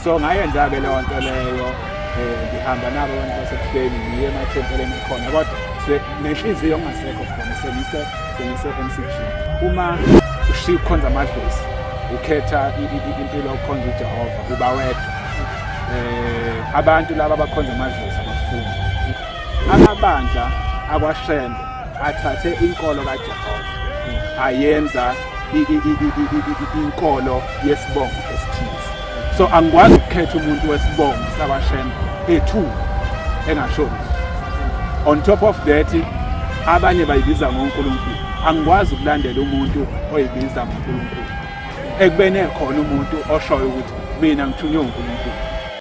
so ngayenza-ke leyo nto leyo um ngihamba nabo abantu basebuhleni ngiye emathempeleni akhona kodwa nenhliziyo ongasekho khona sengise sengise m c g uma ushiya ukukhonza amadlozi ukhetha impilo yokukhonza ujehova uba wedwa um abantu laba abakhonza amadlozi abafuni amabandla akwashembe athathe inkolo kaJehova ayenza inkolo yesibongo esithize so angikwazi ukukhetha umuntu wesibongo sabashembe ethu engashoni on top of that abanye bayibiza ngoNkulunkulu angikwazi ukulandela umuntu oyibiza ngoNkulunkulu ekubene khona umuntu oshoyo ukuthi mina ngithunywe uNkulunkulu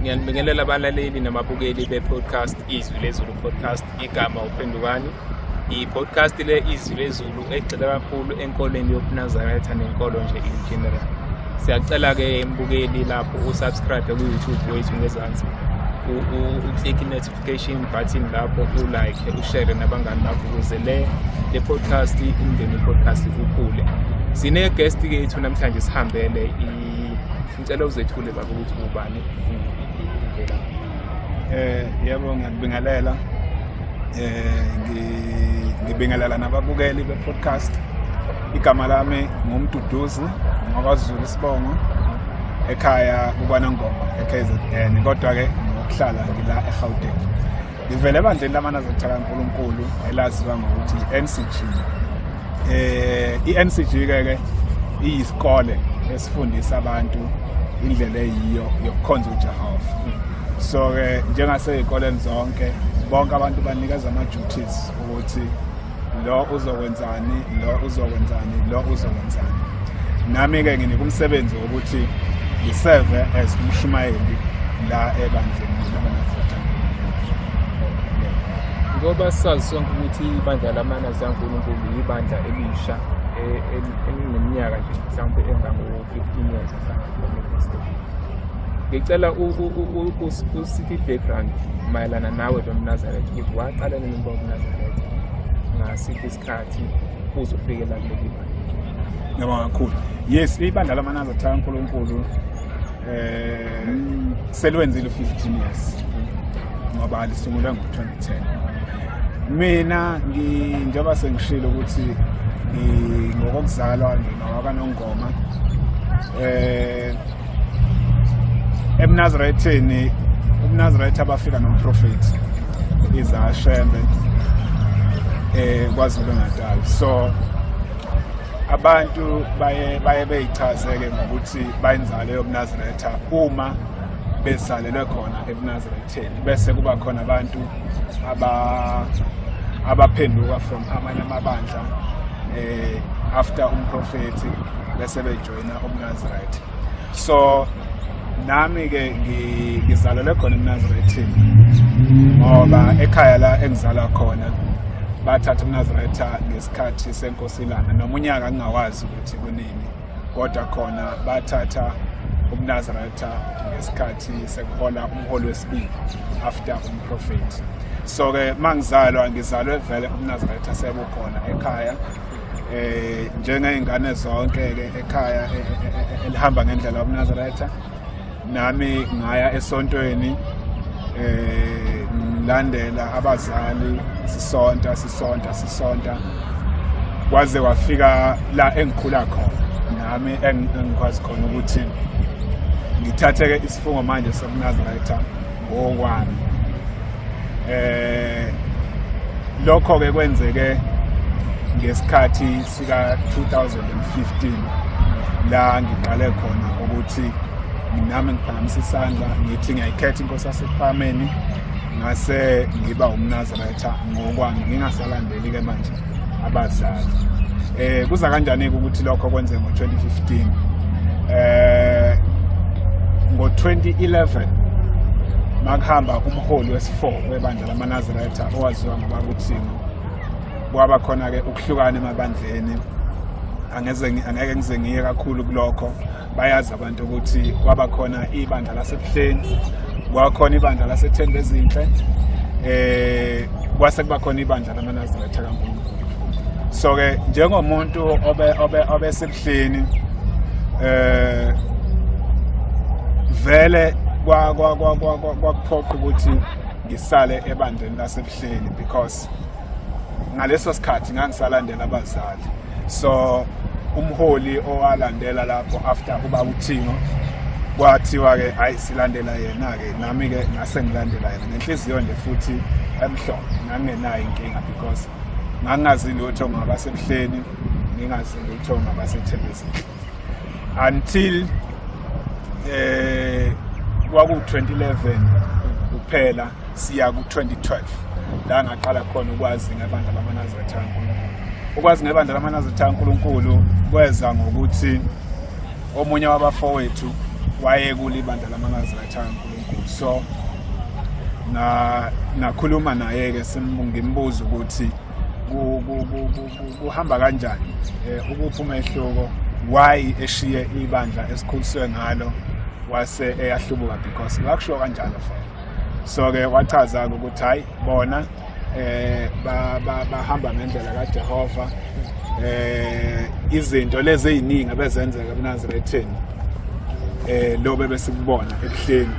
ngiyanibingelela abalaleli nababukeli be-podcast izwi lezulu podcast igama uphendukani i-podcast le izwi lezulu egxile kakhulu enkolweni yobunazaretha nenkolo nje in general siyacela-ke mbukeli lapho usubscribe ku-youtube wethu ngezansi uclick i-notification button lapho ulike ushare nabangani bakho ukuze le le podcast umndeni podcast ukhule sine-guest kethu namhlanje sihambele i Ngicela uzethule baba ukuthi ubani ngivela. Eh yebo ngiyabingelela. Eh ngibingelela nababukeli be podcast. Igama lami ngumduduzi ngakwaZulu isibongo ekhaya kubanangoma eKZN kodwa ke ngokuhlala ngila eGauteng. Ngivele ebandleni lamanaziri kuthaka uNkulunkulu elaziwa ngokuthi i-NCG. Eh i-NCG ke ke iyisikole esifundisa abantu indlela eyiyo yokukhonza uJehova. So ke njengasey'koleni zonke bonke abantu banikeza ama-duties ukuthi lo uzokwenzani lo uzokwenzani lo uzokwenzani nami-ke nginika umsebenzi wokuthi ngiseve as umshumayeli la ebandleni ngoba sazi sonke ukuthi ibandla lamanazi ankulunkulu yibandla elisha e, e, elineminyaka nje mhlawumbe engango-fifteen years ngicela usithi i-background mayelana nawe lo mnazaretha ukuthi waqala nini uMnazareth ngasiphi isikhathi kuze ufike la kuleli bandla ngiyabonga kakhulu yes ibandla lamanalo cha unkulunkulu um selwenzile u-fifteen years ngoba lisungulwe ngo-twenty ten mina njengoba sengishilo ukuthi ngokokuzalwa ngingawaka nongoma um eh, emnazaretheni umnazaretha abafika nomprofethi izashembe eh kwaZulu Natal so abantu baye baye beyichazeke ngokuthi bayenzale yomnazaretha uma besalelwe khona ebunazaretheni bese kuba khona abantu aba abaphenduka from amanye amabandla eh after umprofethi bese bejoyina mina umnazireth so nami-ke ngizalelwe khona emnazirethini ngoba ekhaya la engizalwa khona bathatha umnaziretha ngesikhathi senkosi ilanga noma unyaka ngingawazi ukuthi kunini kodwa khona bathatha umnaziretha ngesikhathi sekuhola umholi wesibili after umprofethi so-ke uma ngizalwa ngizalwe vele umnaziretha sekukhona ekhaya eh njengeyingane zonke ke ekhaya e, e, e, elihamba ngendlela yomnazaretha nami ngaya esontweni eh ngilandela abazali sisonta sisonta sisonta kwaze wafika la engikhula khona nami engikwazi khona ukuthi ngithatheke isifungo manje sokunazaretha okwami eh lokho ke kwenzeke ngesikhathi sika 2015 la ngiqale khona ukuthi nami ngiphakamisa isandla ngithi ngiyayikhetha inkosi yasekuphameni ngase ngiba umnazarayitha ngokwami ngingasalandeli-ke manje abazali eh kuza kanjani-ke ukuthi lokho kwenzeke ngo-2015 eh ngo-2011 makuhamba umholi wesifo webandla lamanazareta owaziwa ngoba kuthini kwaba khona-ke ukuhlukana emabandleni angeke ngize ngiye kakhulu kulokho bayazi abantu ukuthi kwaba khona ibandla lasebuhleni kwakhona ibandla lasethende ezinhle eh kwase kuba khona ibandla lamanazaretha kaNkulunkulu so ke njengomuntu obe obe obesebuhleni eh vele kwa kwa kwa kwakuphoqa ukuthi ngisale ebandleni lasebuhleni because ngaleso sikhathi ngangisalandela abazali so umholi owalandela lapho after uba uthingo kwathiwa-ke ayi silandela yena-ke nami-ke ngase ngilandela yena nenhliziyo nje futhi emhlophe ngangenayo inkinga because ngangingazi lutho ngabasebuhleni ngingazi lutho ngabasethelezini until eh kwaku-2011 kuphela siya ku-2012 la ngaqala khona ukwazi ngebandla lamanazaretha kankulunkulu ukwazi ngebandla lamanazaretha kankulunkulu kweza ngokuthi omunye wabafowethu wayekule ibandla lamanazaretha kankulunkulu so na nakhuluma naye-ke ngimbuza ukuthi kuhamba kanjani eh, ukuphi umehluko why eshiye ibandla esikhuliswe ngalo wase eyahlubuka because ngakushiwo kanjalo fela so ke wachaza-ke ukuthi hhayi bona eh bahamba ngendlela kaJehova eh izinto lezi eziningi abezenzeka eNazarethini eh lo bebesikubona ebuhleni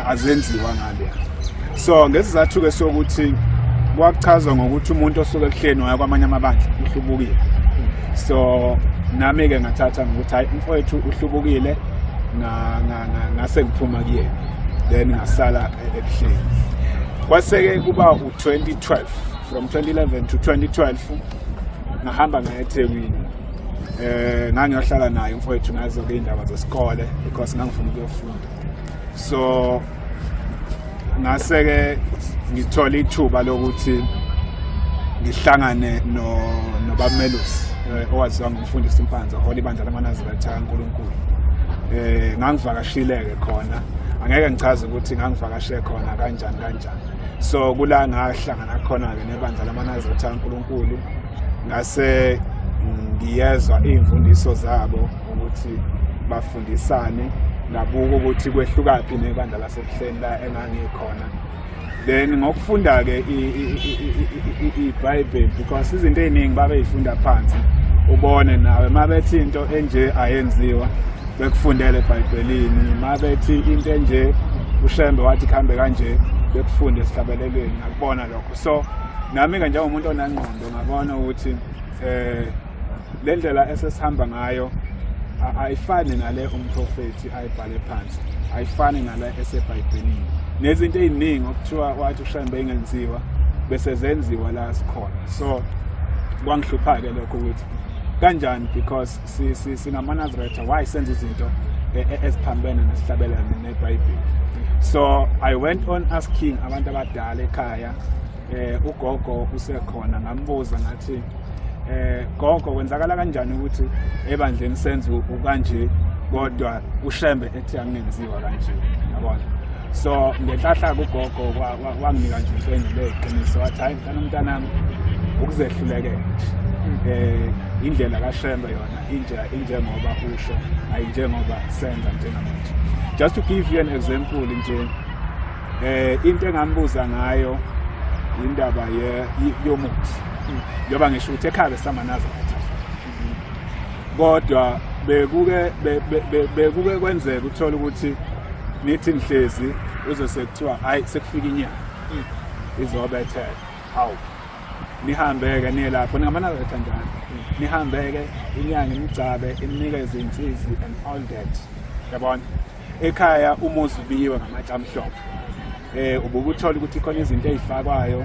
azenziwa ngale so ngesizathu ke sokuthi kwakuchazwa ngokuthi umuntu osuke ebuhleni waya kwamanye amabandla uhlubukile so nami ke ngathatha ngokuthi hayi umfowethu uhlubukile ngase ngiphuma kuyena then ngasala ebuhleni kwaseke kuba u-2012 from 2011 to 2012 ngahamba ngaya ethekwini eh ngangiyohlala naye mfowethu ngazo ke indaba zesikole because ngangifuna ukuyofunda so ngase-ke ngithole ithuba lokuthi ngihlangane nobamelusi eh, owaziwa ngumfundisi umpanza ohola ibandla lamanazirathi akankulunkulu um ngangivakashile-ke khona angeke ngichaze ukuthi ngangivakashe khona kanjani kanjani so kula ngahlangana khona-ke nebandla lamanazirathi akankulunkulu ngase ngiyezwa iy'mfundiso zabo ukuthi bafundisane nabuko ukuthi kwehlukaphi nebandla lasebuhleni la engangikhona then ngokufunda-ke ibhayibheli because izinto ey'ningi babeyifunda phansi ubone nawe uma bethi into enje ayenziwa bekufundele ebhayibhelini uma bethi into enje ushembe wathi kuhambe kanje bekufunde esihlabelelweni ngakubona lokho so nami-ke njengomuntu onengqondo ngabona ukuthi um le ndlela esesihamba ngayo ayifani nale umprofethi ayibhale phansi ayifani nale esebhayibhelini nezinto eziningi okuthiwa wathi ushayini beyingenziwa bese zenziwa la sikhona so kwangihlupha-ke lokho ukuthi kanjani because singamanazretha why senza izinto e, e, eziphambene nesihlabelane nebhayibheli so i went on asking abantu abadala ekhaya eh ugogo usekhona ngambuza ngathi eh gogo kwenzakala kanjani ukuthi ebandleni senze ukanje kodwa ushembe ethi angenziwa kanje yabona so ngenhlahla kugogo wanginika nje impendulo eqiniso wathi hayi mfana umntanami ukuzehlulekela eh indlela kaShembe yona inje injengoba usho ayinjengoba senza njengamanje just to give you an example nje eh into engambuza ngayo indaba ye yomuthi njengoba ngisho ukuthi ekhaya besamanaza kodwa bekuke bekuke kwenzeka uthola ukuthi nithi nihlezi uzose kuthiwa hayi sekufika inyanga izobethela hawu nihambeke niye lapho ningamanaza kanjani nihambeke inyanga imgcabe imnikeze insizi and all that yabona ekhaya umuzi ubiyiwe ngamatshe amhlophe eh ubukuthola ukuthi khona izinto ezifakwayo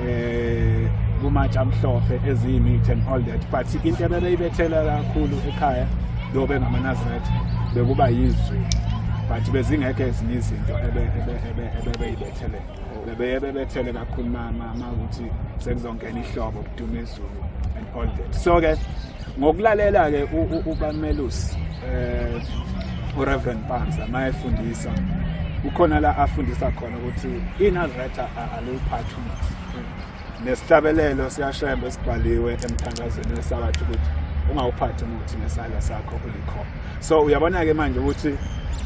eh kumatshe amhlophe eziyimithi and all that but into ebebeyibethela kakhulu ekhaya lo bengamanazaretha bekuba yizwi but bezingekho ezinye izinto ebebeyibethele bebeye bebethele kakhulu makuthi sekuzongena ihlobo kuduma izulu and all that so-ke Ngokulalela-ke uBamelus eh uReverend Panza mayefundisa ukhona la afundisa khona ukuthi iNazaretha aliyiphathi umuthi. Nesihlabelelo siyashembe esibhaliwe emthandazweni wesabatha ukuthi ungawuphathi umuthi nesandla sakho ulikhona. So uyabona-ke manje ukuthi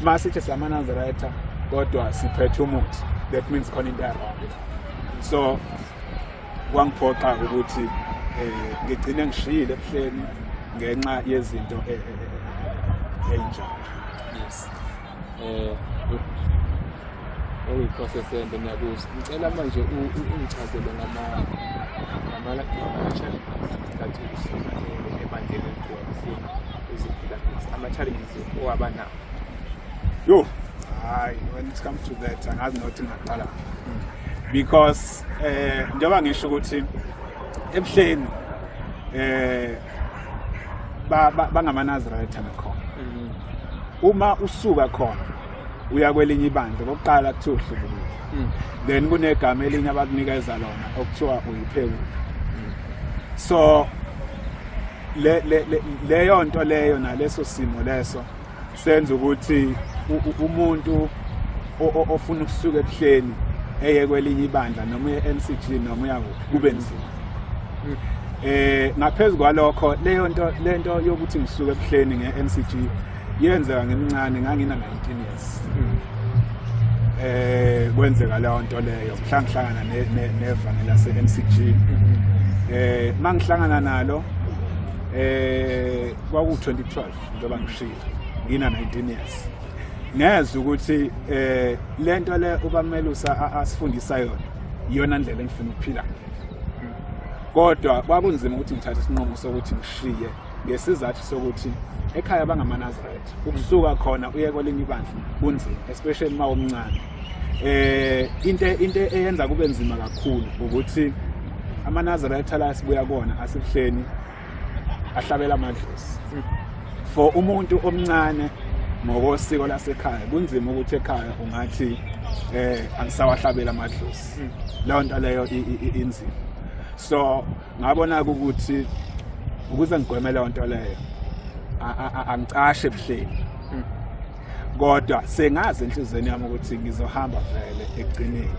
masithi samaNazaretha kodwa siphethe umuthi that means khona into ya-wrong. So kwangiphoqa ukuthi eh, ngigcine ngishiyile ebuhleni ngenxa yezinto eh, eh, eyinjalo yes eh oyiprocess ende ngiyakuza ngicela manje ungichazele ngama ngama-challenges that usuka ebandleni elikhona uziphila ama-challenges owaba nawo yo hayi when it comes to that angazi nokuthi ngaqala because eh njengoba ngisho ukuthi ebuhleni eh ba bangamanazirayitha nakhona mm. uma usuka khona uya kwelinye ibandla kokuqala kuthiwa uhlubukile mm. then kunegama elinye abakunikeza lona okuthiwa uyiphewula mm. so le le leyo nto leyo naleso simo leso senza ukuthi umuntu ofuna ukusuka ebuhleni eye kwelinye ibandla noma uye MCG noma uya kube nzima hmm. eh ngaphezulu kwalokho leyo nto lento yokuthi ngisuke ebuhleni ngeMCG yenzeka ngimncane ngangina 19 years hmm. eh kwenzeka leyo nto leyo mhlangihlangana nevangeli laseMCG hmm. eh mangihlangana nalo eh kwaku 2012 njengoba ngishilo ngina 19 years ngezwe ukuthi eh lento le ubamelusa asifundisa yona iyona ndlela engifuna ukuphila kodwa kwakunzima ukuthi ngithathe isinqumo sokuthi ngishiye ngesizathu sokuthi ekhaya bangamanazareth ukusuka khona uye kwelinye ibandla kunzima especially uma umncane eh into into eyenza kube nzima kakhulu ukuthi amanazareth la sibuya kona asibuhleni ahlabela amadlozi for umuntu omncane ngokosiko lasekhaya kunzima ukuthi ekhaya ungathi eh angisawahlabela amadlozi leyo nto leyo inzima so ngabona ukuthi ukuze ngigweme leyo nto leyo angicashe ebuhleni kodwa sengazi enhlizweni yami ukuthi ngizohamba vele ekugcineni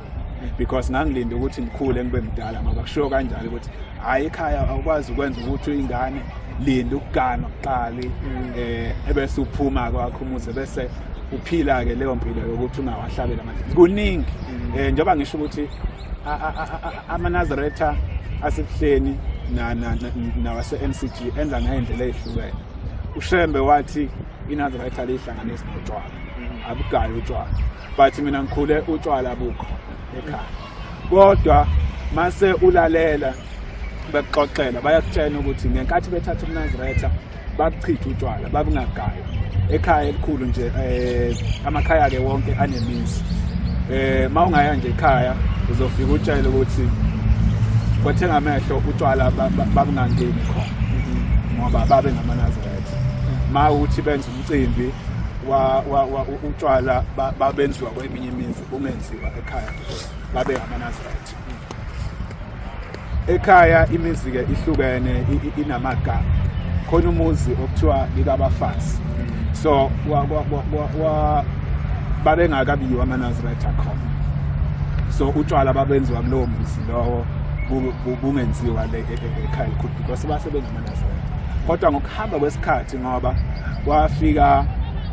because ngangilinda ukuthi ngikhule ngibe mdala ngoba kushiwo kanjalo ukuthi hhayi ekhaya awukwazi ukwenza ukuthi ingane linda ukuganwa kuqali um eh, ebese uphuma kwakho umuze bese uphila-ke leyo mpilo yokuthi ungawahlabela manje kuningi um njengoba ngisho ukuthi amanazaretha asebuhleni nawase-n c g enza ngey'ndlela ey'hlukene ushembe wathi inanzi ngayithanda ihlanganisi notshwala mm-hmm. abugayi utshwala but mina ngikhule utshwala bukho ekhaya kodwa mase ulalela bekuxoxela bayakutshena ukuthi ngenkathi bethatha umnaziretha bakuchitha utshwala babungagayi ekhaya elikhulu nje eh amakhaya ke wonke anemizi eh mawungaya nje ekhaya uzofika utshele ukuthi kwethenga amehlo utshwala babungangeni khona ngoba babe ngamanaziri ma uthi benza umcimbi utshwala babenziwa kweminye imizi kungenziwa ekhaya babe ngamanaziraythi ekhaya imizi-ke ihlukene inamagama khona umuzi okuthiwa likabafazi so babengakabiyiwa amanaziraythi akhona so utshwala babenziwa kulowo muzi lowo bungenziwa le e, e, e, ekhaya elikhulu because basebenza kodwa ngokuhamba kwesikhathi ngoba kwafika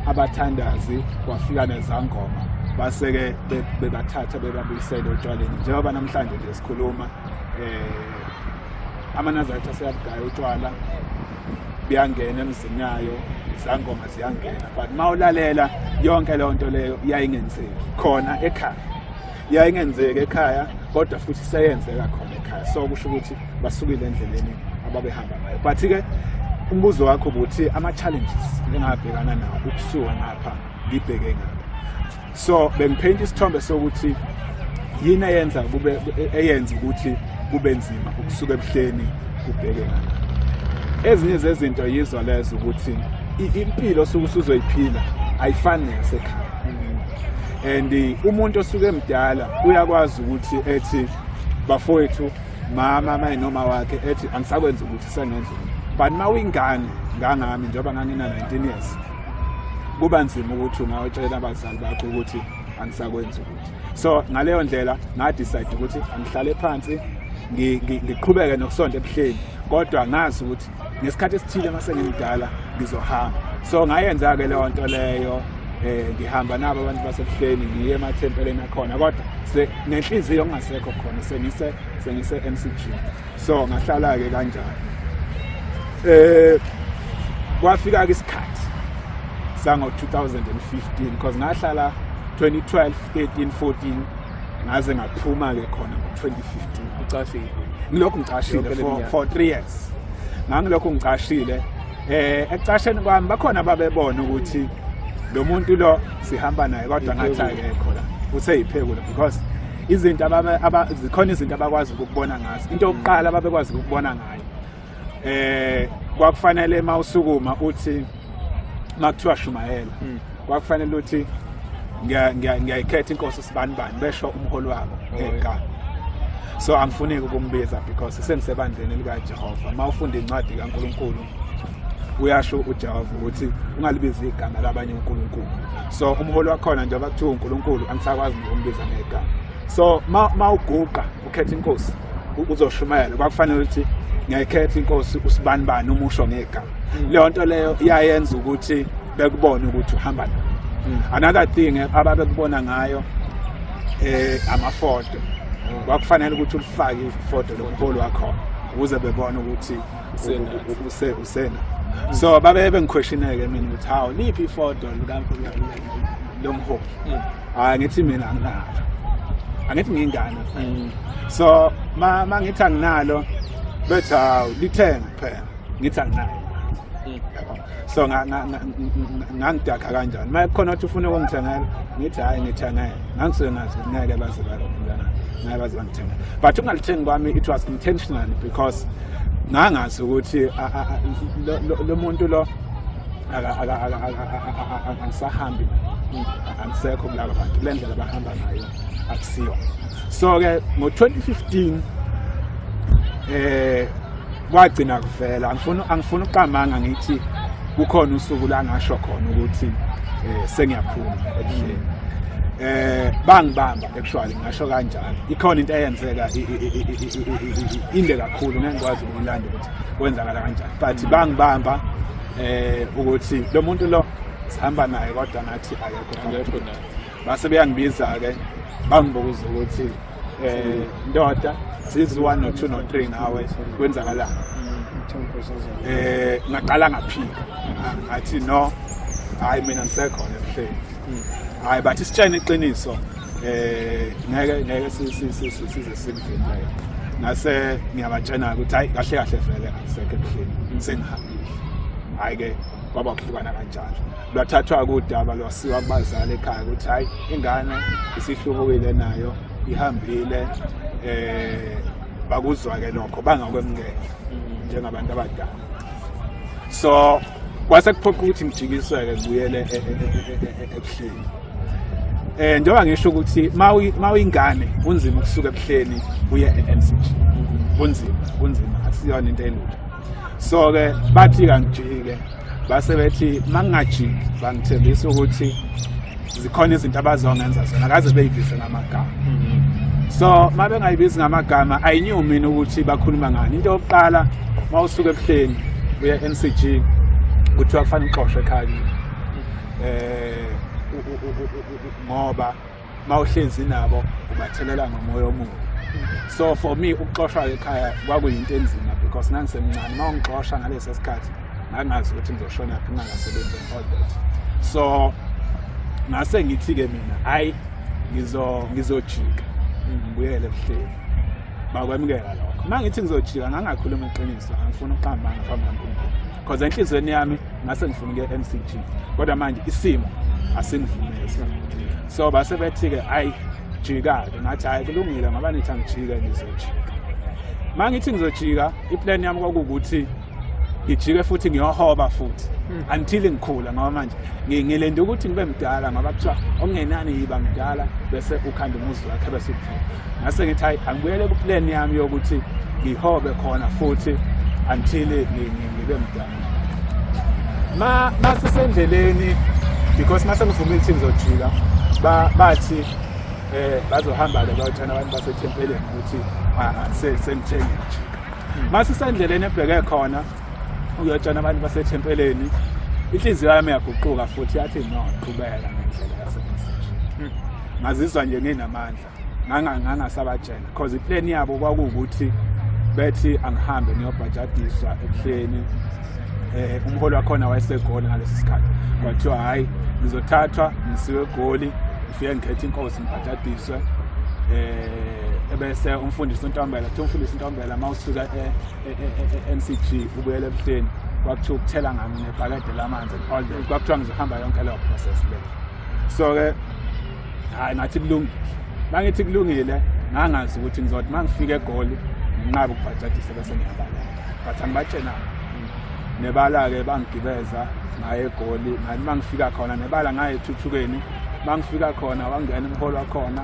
abathandazi kwafika nezangoma base-ke bebathatha bebabuyisele otshwaleni njengoba namhlanje nje sikhuluma um amanazaretha aseyabugaya utshwala buyangena emzini yayo izangoma ziyangena but uma ulalela yonke leyo nto leyo yayingenzeki khona ekhaya yayingenzeki ekhaya kodwa futhi seyenzeka khona ekhaya so kusho ukuthi basukile endleleni ababehamba ngayo but-ke umbuzo wakho ukuthi ama-challenges engabhekana nawo ukusuka ngapha ngibheke ngapha so bengipheyinta isithombe sokuthi yini eyenza kube eyenza ukuthi kube nzima ukusuka ebuhleni kubheke ngapha ezinye zezinto yizo lezo ukuthi impilo osuke usuzoyiphila ayifani neyasekhaya and umuntu osuke emdala uyakwazi ukuthi ethi bafowethu mama mayi noma wakhe ethi angisakwenza ukuthi sengenza but uma uyingane ngangami njengoba ngangina-19 years kuba nzima ukuthi ungawatshela abazali bakho ukuthi angisakwenzi ukuthi so ngaleyo ndlela ngadicide ukuthi angihlale phansi ngiqhubeke nokusonta ebuhleni kodwa ngazi ukuthi ngesikhathi esithile uma sengimdala ngizohamba so ngayenza-ke leyo nto leyo eh ngihamba nabo abantu basebuhleni ngiye emathempeleni akhona kodwa nenhliziyo ongasekho khona sengise sengise MCG so ngahlala ke kanjalo eh kwafika ke isikhathi sango 2015 because ngahlala 2012 13 14 ngaze ngaphuma-ke khona ngo-2015 ucashile ngilokhu ngicashile for three years ngangilokhu ngicashile eh ekucasheni kwami bakhona babebona ukuthi lo muntu lo sihamba naye kodwa ngathi akekho la useyiphekula because izinto zikhona izinto abakwazi ukubona ngazo into yokuqala ababekwazi ukubona ngayo eh kwakufanele mawusukuma uthi makuthiwa shumayela hmm. kwakufanele uthi ngiyayikhetha inkosi sibani bani besho umholi wabo oh, eqala so angifuneki ukumbiza because sendisebandleni elikajehova uma ufunda incwadi kankulunkulu uyasho ujehova ukuthi ungalibizi igama labanye unkulunkulu so umholi wakhona njengoba kuthiwa unkulunkulu angisakwazi nokumbiza ngegama so ma uguqa ukhetha inkosi uzoshumayela kwakufanele ukuthi ngekhetha inkosi usibani bani umusho ngegama mm. leyo nto leyo iyayenza ukuthi bekubone ukuthi uhamba nayo mm. another thing eh, ababekubona ngayo eh amafoto mm. kwakufanele ukuthi ulifake ifoto lomholi wakhona ukuze bebone ukuthi use usena so babe bengiquestioneke mina ukuthi hawu liphi ifoto lomholi mm. hayi ngithi mina anginalo angithi ngingane mm. so ma mangithi anginalo bethi hawu lithenge kuphela ngithi anginalo mm. so ngangidakha kanjani uma khona ukuthi ufuna ukungithengela ngithi hhayi ngithengele ngangisuke ngazi ngeke baze balomntana ngeke baze bangithengele but ukungalithengi kwami it was intentionally because ngangazi ukuthi lo muntu lo angisahambi angisekho kulaba bantu le ndlela bahamba ngayo akusiyo so-ke ngo-2015 um eh, kwagcina kuvela angifuni ukuqamanga ngithi kukhona usuku la ngasho khona ukuthi eh, sengiyaphuma ebuhleni eh bangibamba actually ngasho kanjalo ikhona into eyenzeka inde kakhulu ngeke ngikwazi ukulanda ukuthi kwenzakala kanjani but bangibamba eh ukuthi lo muntu lo sihamba naye kodwa ngathi akekho base beyangibiza-ke bangibuza ukuthi um ndoda zizi one no two no three ngawe kwenzakalani um ngaqala ngaphika ngathi no hhayi mina ngisekhona ebuhleni Hmm. Hayi bathi sitshene iqiniso eh ngeke ngeke size sikuvimbe ngase ngiyabatshena ukuthi hayi kahle kahle vele angisekho ebuhleni hmm. sengihambile hayi ke kwaba kuhlukana kanjalo lwathathwa kudaba lwasiwa kubazali ekhaya ukuthi hayi ingane isihlubukile nayo ihambile eh bakuzwa ke lokho bangakwemngeke njengabantu abadala so kwase kuphoqa ukuthi ngijikiseke kubuyele e- e- e- ebuhleni eh njengoba ngisho ukuthi mawuyingane kunzima ukusuka ebuhleni uye e-mcg kunzima kunzima akusiyona into elula so-ke bathi kangijike base bethi mangingajiki bangithembisa ukuthi zikhona izinto abazongenza zona kaze beyibize ngamagama mm-hmm. so uma bengayibizi ngamagama ayinyiwe mina ukuthi bakhuluma ngani into yokuqala uma usuke ebuhleni uya e-n c g kuthiwa kufanele uxoshwe ekhaya um eh, ngoba uma uhlezi nabo ubathelela ngomoya omubi so for me ukuxoshwa ekhaya kwakuyinto enzima because ngangisemncane uma ungixosha ngaleso sikhathi ngangazi ukuthi ngizoshona phi ngangasebenzi and all that so ngase ngithi-ke mina hhayi ngizojika ngibuyele ebuhleni bakwamukela lokho uma ngithi ngizojika ngangakhuluma iqiniso angifuni ukuqambanga phambi kankulunkulu because enhliziyweni yami ngase ngifuna ukuya e-m c g kodwa manje isimo asingivumeli so base bethi-ke hhayi jika-ke ngathi hhayi kulungile ngoba nithi angijike ngizojika uma ngithi ngizojika iplan yami kwakuwukuthi ngijike futhi ngiyohoba futhi hmm. until ngikhula ngoba manje ngilenda ukuthi ngibe mdala ngoba kuthiwa okungenani yiba mdala bese ukhanda umuzi wakhe bese uphila ngase ngithi hayi angibuyele kuplan yami yokuthi ngihobe khona futhi until ngibe mdala ma masisendleleni because mase ngivumile ukuthi ngizojika bathi eh bazohamba-ke bayothana abantu basethempeleni ukuthi ah, ah, sengithengile masisendleleni ebheke khona uyotshana abantu basethempeleni inhliziyo yami yaguquka futhi yathi no qhubeka ngendlela yasemseshe hmm. ngazizwa nje nginamandla ngangasabatshela because iplan yabo kwakuwukuthi bethi angihambe ngiyobhajadiswa ebuhleni eh umholi wakhona wayesegoli ngalesi sikhathi kwathiwa hayi ngizothathwa ngisiwe egoli ngifike ngikhethe inkosi ngibhajadiswe eh ebese umfundisi uNtombela kuthiwa umfundisi uNtombela uma usuka e-NCG e, e, e, ubuyela ebuhleni kwakuthiwa ukuthela ngami nebhakede lamanzi all day kwakuthiwa ngizohamba yonke leyo process le so-ke hhayi ngathi kulungile uma ngithi kulungile ngangazi ukuthi ngizothi uma ngifika egoli nginqabe ukubhajadisa bese ngiyabala but angibatshenanga nebala-ke bangigibeza ngaye egoli ngathi uma ngifika khona nebala ngaye ethuthukeni mangifika khona wangena umholi wakhona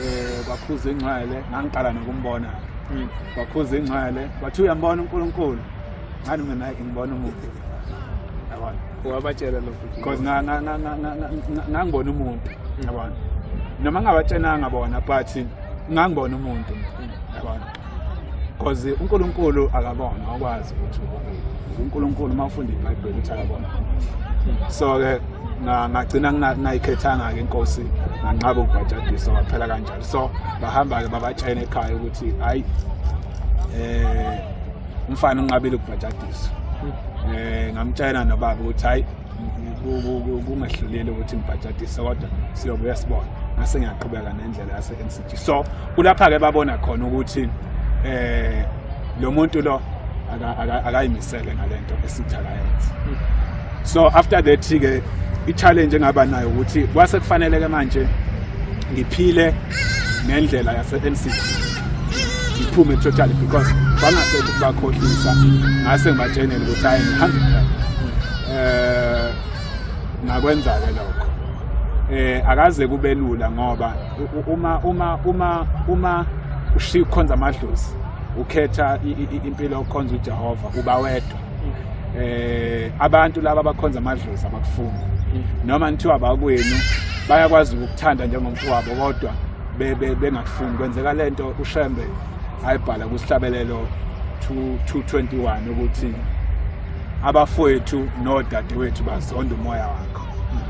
eh kwakhuza ingcwele ngangiqala nokumbona hmm. kwakhuza ingcwele wathi uyambona uNkulunkulu ngani mina hayi ngibona umuntu yabona wabatshela lokho because ngangibona umuntu hmm. yabona noma ngabatshenanga bona but ngangibona umuntu hmm. yabona because uNkulunkulu akabona akwazi ukuthi uNkulunkulu uma ufunda iBhayibheli ukuthi akabona so ke ngagcina ngingayikhethanga ke inkosi nganqaba ukubhajadisa waphela kanjalo so bahamba ke babatshena ekhaya ukuthi hayi eh umfana unqabile ukubhajadisa eh ngamtshena nobaba ukuthi hayi kungehlulile ukuthi ngibhajadise kodwa siyobuya sibona ngase ngiyaqhubeka nendlela yase so kulapha ke babona khona ukuthi eh lo muntu lo akayimisele ngalento esitha kayenza so after that ke i-challenge engaba nayo ukuthi kwase kufanele ke manje ngiphile ngendlela yase-NCT ngiphume totally because bangasekho ukubakhohlisa ngase ngibatshenele ukuthi hayi ngihambe eh ngakwenza-ke lokho eh akaze kube lula ngoba uma uma uma uma ushiya ukukhonza amadlozi ukhetha impilo yokukhonza uJehova uba wedwa eh abantu laba abakhonza amadlozi abakufuni noma nithiwa abakwenu bayakwazi ukukuthanda njengomfowabo kodwa bengakufuni kwenzeka lento ushembe ayibhala kusihlabelelo 221 ukuthi abafowethu nodadewethu bazonda umoya wakho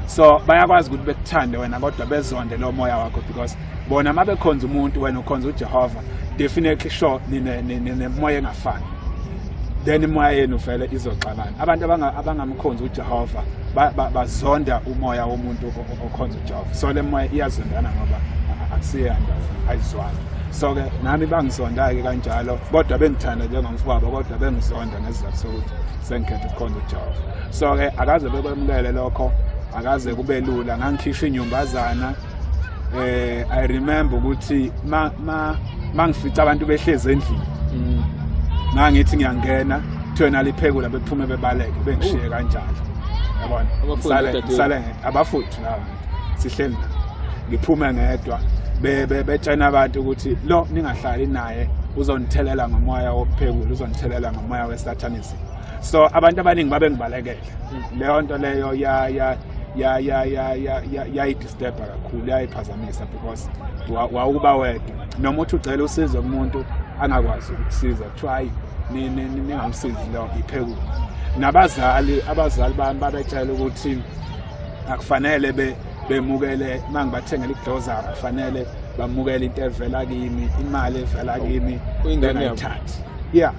so bayakwazi ukuthi bekuthande wena kodwa bezonde lo moya wakho because bona uma bekhonza umuntu wena ukhonza ujehova definitely sure ninemoya engafani then imoya yenu vele izoxabana abantu abangamkhonzi ujehova bazonda umoya womuntu okhonza ujehova so le moya iyazondana ngoba akusiyena ayizwani so-ke nami bangisonda-ke kanjalo kodwa bengithanda njengomfowabo kodwa bengisonda ngesizathu sokuthi sengikhetha ukukhonza ujehova so ke akaze bekwemukele lokho akaze kube lula ngangikhishwa inyumbazana eh i remember ukuthi ma ma mangifica abantu behlezi endlini mm. ngangithi ngiyangena kuthiwena liphekula bephume bebaleke bengishiye kanjalo yabona sale abafuthi laba sihleli ngiphume ngedwa betshena abantu ukuthi lo ningahlali naye uzonithelela ngomoya wokuphekula uzonithelela ngomoya wesathanisim so abantu abaningi babengibalekela leyo nto leyo ya ya ya ya ya ya ya yayidisturba kakhulu yayiphazamisa because wawukuba wedwa noma uthi ucela usizo kumuntu angakwazi ukusiza kuthiwa hayi ningamsizi lo iphekulu nabazali abazali bami babetshela ukuthi akufanele be bemukele mangibathengela iglozara kufanele bamukele into evela kimi imali evela kimi ingane yathatha yeah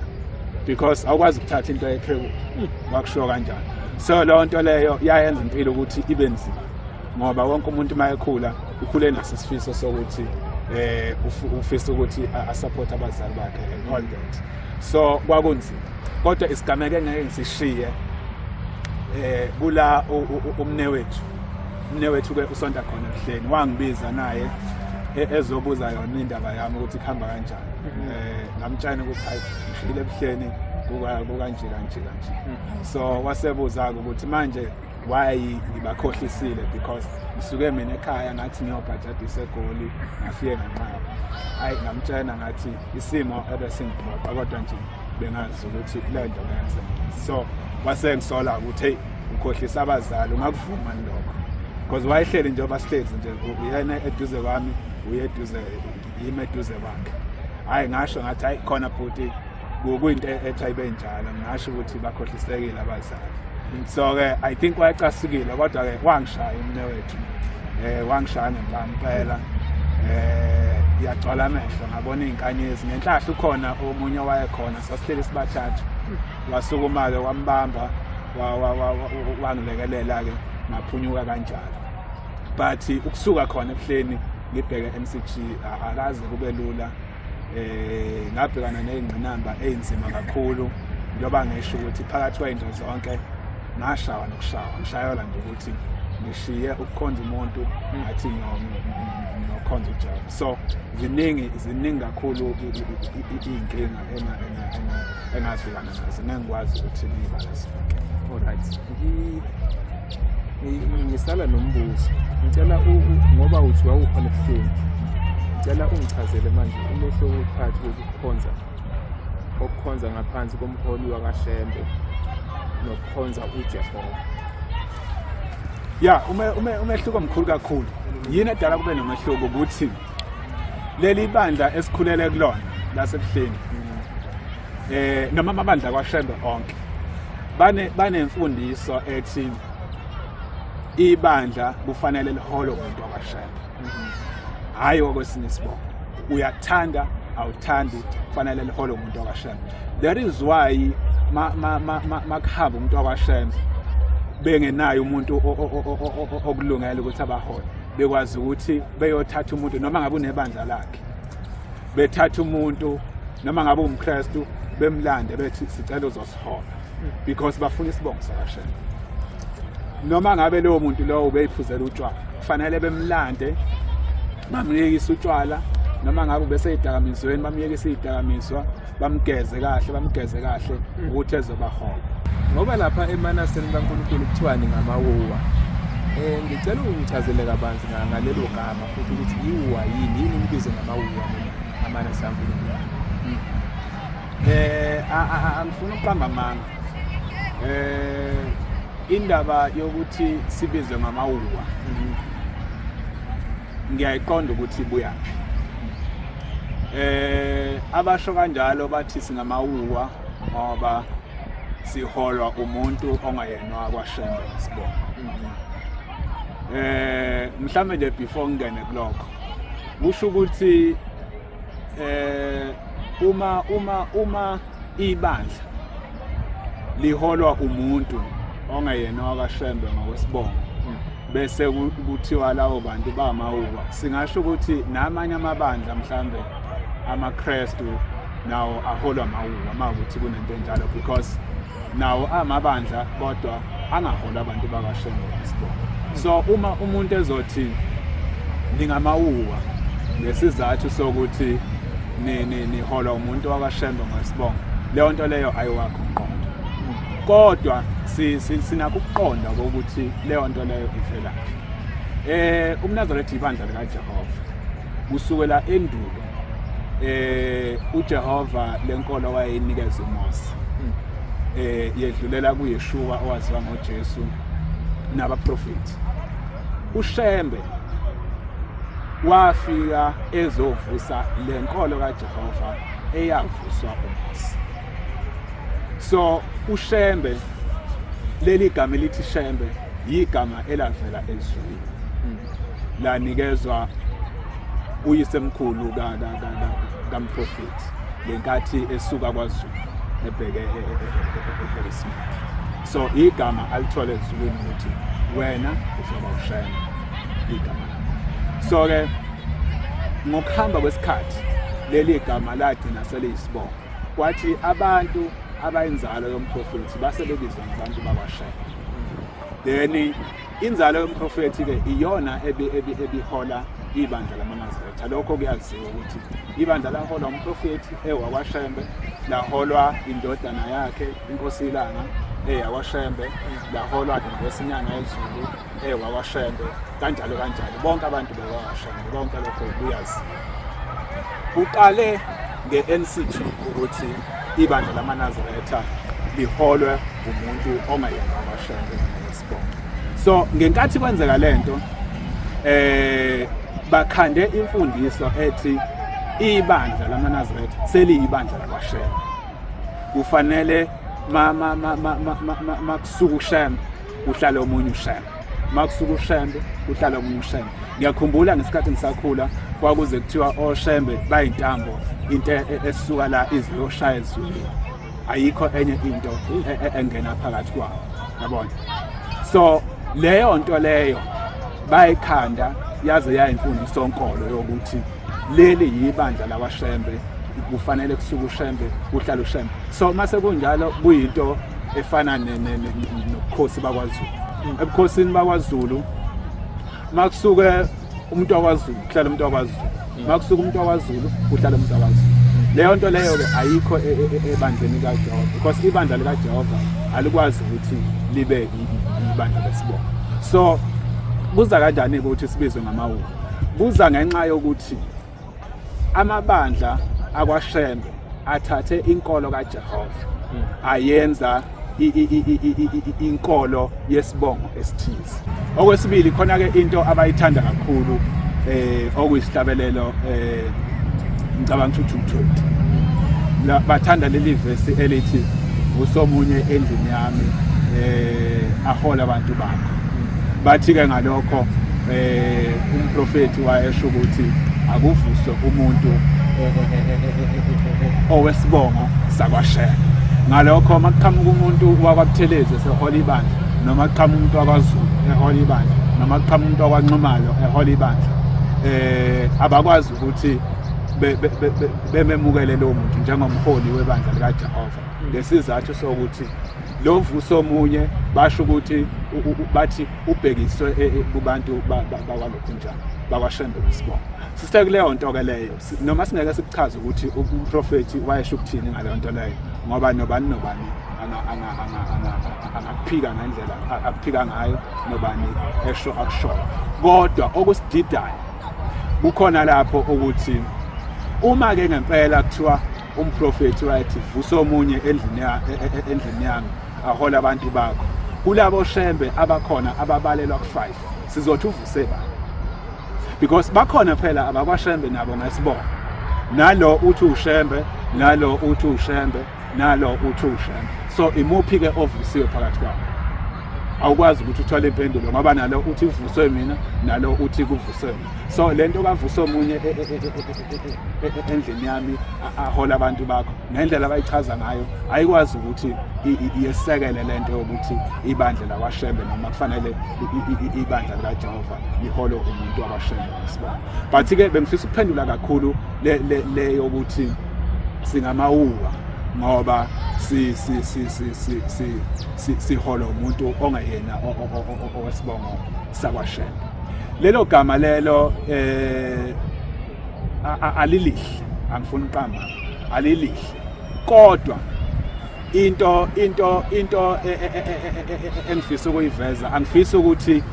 because awukwazi ukuthatha into yeqheku wakushiwo kanjani so leyo nto leyo yayenza impilo ukuthi ibe nzima ngoba wonke umuntu uma ekhula ukhule naso isifiso sokuthi eh ufisa ukuthi asupport abazali bakhe and all that so kwakunzima kodwa isigameke ngeke ngisishiye eh kula umne wethu umne wethu ke usonta khona ehleni wangibiza naye e-, ezobuza yona indaba yami ukuthi kuhamba kanjani eh ngamtshana ukuthi hayi ngishile ebuhleni kuka kanje kanje kanje hmm. so wasebuza ukuthi manje why ngibakhohlisile because ngisuke mina ekhaya ngathi ngiyobhajada isegoli ngafike nganqaba hayi ngamtshena ngathi isimo ebesingibhoqa kodwa nje bengazi ukuthi le nto ngenzeka so wasengisola ukuthi heyi ukhohlisa abazali ungakuvuma lokho because wayehleli njengoba sihlezi nje uyena eduze kwami uye eduze yimi eduze kwakhe hhayi ngasho ngathi hayi khona bhuti kuyinto e-, ethiwa ibe njalo ngingasho ukuthi bakhohlisekile abazali so-ke i think wayecasukile kodwa-ke wangishaya umne wethu um wangishaya ngempela um eh, yagcwala amehlo ngabona iy'nkanyezi ngenhlahla ukhona omunye owayekhona sasihleli sibathathu wasukuma-ke wambamba wangilekelela-ke ngaphunyuka kanjalo but ukusuka khona ebuhleni ngibheke MCG akaze kube lula eh ngabhekana nezingqinamba ezinzima kakhulu njengoba ngisho ukuthi phakathi kwayinto zonke ngashawa nokushawa ngishayela nje ukuthi ngishiye ukukhonza umuntu ngathi nokhonza uJehova so ziningi ziningi kakhulu izinkinga engazwelana nazo ngangikwazi ukuthi ngibalise alright ngisala nombuzo ngicela ngoba uthi wawukhona ebuhlungu ngicela ungichazele manje umehlo wokuphakathi kokukhonza okukhonza ngaphansi komholi wakashembe nokukhonza ujehova ya umehluko mkhulu kakhulu yini edala kube nomehluko ukuthi leli bandla esikhulele kulona lasebuhleni eh noma amabandla kwaShembe onke bane banemfundiso ethi ibandla kufanele liholo umuntu wakwaShembe hayi okwesinye isibongo uyathanda awuthandi kufanele liholo umuntu wakwaShembe that is why makuhamba umuntu wakwaShembe bengenayo umuntu okulungele ukuthi abahole bekwazi ukuthi beyothatha umuntu noma ngabe unebandla lakhe bethatha umuntu noma ngabe umKristu bemlande bethi sicela uzosihola because bafuna isibongo sakashela noma ngabe leyo muntu lowo ubeyiphuzela utshwala kufanele bemlande bamyekise utshwala noma ngabe ubeseyidakamisweni bamyekise iyidakamizwa bamgeze kahle bamgeze kahle mm. ukuthi ezobahoba ngoba lapha emanaseni kaNkulunkulu kuthiwani ngamawuwa um ngicela ungichazele kabanzi ngalelo gama futhi ukuthi yiwuwa yini yini ngibize ngamawuwa amanasi kaNkulunkulu um angifuni ukuqamba amanga um indaba yokuthi sibizwe ngamawuwa mm-hmm. ngiyayiqonda ukuthi ibuyaphi eh abasho kanjalo bathi singamawuwa ngoba siholwa umuntu ongayena wakwashembe sibona eh mhlambe nje before ngene kulokho kusho ukuthi eh uma uma uma ibandla liholwa umuntu ongeyena wakashembe ngokwesibongo bese kuthiwa lawo bantu bamawuba singasho ukuthi namanye amabandla mhlambe amaKristu nawo aholwa mawuba makuthi kunento enjalo because nawo amabandla kodwa angaholi abantu bakashembe basibona so uma umuntu ezothi ningamawuwa ngesizathu sokuthi niholwa umuntu wakashembe ngesibongo leyo nto leyo ayiwakho umqondo kodwa sinakho ukuqonda kokuthi leyo nto leyo ivelaphi um umnazaretha ibandla likajehova kusukela endulo eh uJehova lenkolo wayeyinikeza uMose hmm. eh yedlulela kuYeshua owaziwa ngoJesu nabaprofeti uShembe wafika ezovusa lenkolo kaJehova eyavuswa uMose so uShembe leli gama elithi Shembe yigama elavela ezweni lanikezwa uyisemkhulu kamprofethi ngenkathi esuka kwazulu ebheke eharrismith e, e, e, so igama alithole ezulwini ukuthi wena uzoba ushayela igama so-ke ngokuhamba kwesikhathi leli gama lagcina seliyisibongo kwathi abantu abayinzalo yomprofethi base bebizwa ngabantu bakwashela then Inzalo yomprofethi-ke iyona ebihola ibandla lamaNazaretha. Lokho kuyaziwa ukuthi ibandla laholwa umprofethi ewakwashembe, laholwa indodana yakhe inkosi ilanga eyakwashembe, laholwa inkosi inyanga yezulu ewakwashembe, kanjalo kanjalo. Bonke abantu bewakwashembe, konke lokho kuyaziwa. Kuqale nge-NCG ukuthi ibandla lamaNazaretha liholwe umuntu ongayena kwashembe. so ngenkathi kwenzeka lento eh bakhande imfundiso ethi ibandla lamanazaretha seliyibandla lakwashela kufanele mama mama mama makusuka ushembe uhlale omunye ushembe makusuka ushembe uhlale omunye ushembe ngiyakhumbula ngesikhathi ngisakhula kwakuze kuthiwa oshembe bayintambo into e, e, esuka la iziyoshaya ezulwini ayikho enye into e, e, engena phakathi kwawo yabona so leyo nto leyo bayikhanda yaze yayimfundiso nkolo yokuthi leli yibandla lakwashembe kufanele kusuke ushembe kuhlala ushembe so mase kunjalo kuyinto efana nobukhosi bakwazulu ebukhosini bakwazulu makusuke umuntu wakwaZulu kuhlala umuntu wakwaZulu mm. makusuka umuntu wakwaZulu kuhlala umuntu wakwaZulu leyo nto leyo ke ayikho e, e, e, ebandleni likaJehova because ibandla likaJehova alikwazi ukuthi libe ibandla lesibongo so kuza kanjani ukuthi sibizwe ngamawuku kuza ngenxa yokuthi amabandla akwashembe athathe inkolo kaJehova hmm. ayenza inkolo yesibongo esithize okwesibili khona ke into abayithanda kakhulu eh okuyisihlabelelo eh ngicabanga ukuthi uthuthuthi bathanda leli verse elithi vusa omunye endlini yami eh ahola abantu bakho Bathi-ke ngalokho um umprofethi wayesho ukuthi akuvuswe umuntu owesibongo sakwashela ngalokho uma kuqhamuka umuntu wakwabuthelezi esehola ibandla noma kuqhamuka umuntu wakwazulu ehola ibandla noma kuqhamuka umuntu wakwanxumalo ehola ibandla eh abakwazi ukuthi bememukele lowo muntu njengomholi webandla likaJehova ngesizathu sokuthi lo vuso omunye basho ukuthi bathi ubhekiswe e, e, kubantu bakwalokhunjana bakwashembe isibongo sisithe kuleyo nto ke leyo noma singeke sikuchaze ukuthi umprofethi wayesho ukuthini ngaleyo nto leyo ngoba nobani nobani angakuphika ngendlela akuphika ngayo nobani esho akushoyo kodwa okusididayo kukhona lapho ukuthi uma-ke ngempela kuthiwa umprofethi right vusa omunye endlini e, e, e, endlini yami ahola abantu bakho kulabo shembe abakhona ababalelwa ku-5 sizothi uvuse ba because bakhona phela abakwashembe nabo ngesibongo nalo uthi ushembe nalo uthi ushembe nalo uthi ushembe so imuphi-ke ovusiwe phakathi kwabo awukwazi ukuthi uthole impendulo ngoba nalo uthi ivuswe mina nalo uthi kuvuswe mina so le nto kavuswe omunye endlini yami ahola abantu bakho ngendlela abayichaza ngayo ayikwazi ukuthi yesekele lento yokuthi ibandla lakwashembe noma kufanele ibandla likajehova lihole umuntu wakwashembe ngesibona but-ke bengifisa ukuphendula kakhulu le yokuthi singamawuwa ngoba sihole umuntu ongayena owesibongo sakwashela lelo gama lelo eh alilihle angifuni uqamba alilihle kodwa into into into e, e, e, engifisa ukuyiveza angifisa ukuthi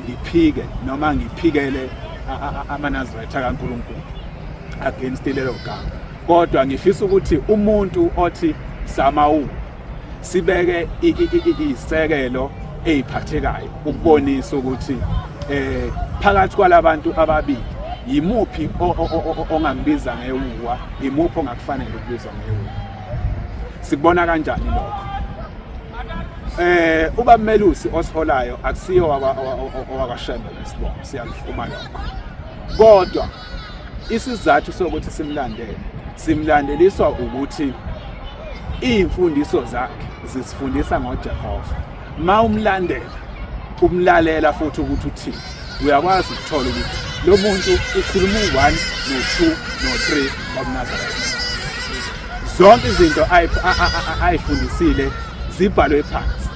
ngiphike noma ngiphikele amanazirayitha kaNkuluNkulu against lelo gama kodwa ngifisa ukuthi umuntu othi samawu sibeke isekelo eziphathekayo ukubonisa ukuthi eh phakathi kwalabantu ababili yimuphi ongambiza ngewuwa yimuphi ongakufanele ukubizwa ngewuwa sikubona kanjani lokho eh uba melusi osiholayo akusiyo wakwa wakwa Shembe lesibongo siyakufuma lokho kodwa isizathu sokuthi simlandele simlandeliswa ukuthi iy'mfundiso zakhe zisifundisa ngojehova ma umlandela umlalela futhi ukuthi uthini uyakwazi ukuthola ukuthi lo muntu ukhuluma u-one no-two no-three wabunazareth zonke izinto ayifundisile zibhalwe phansi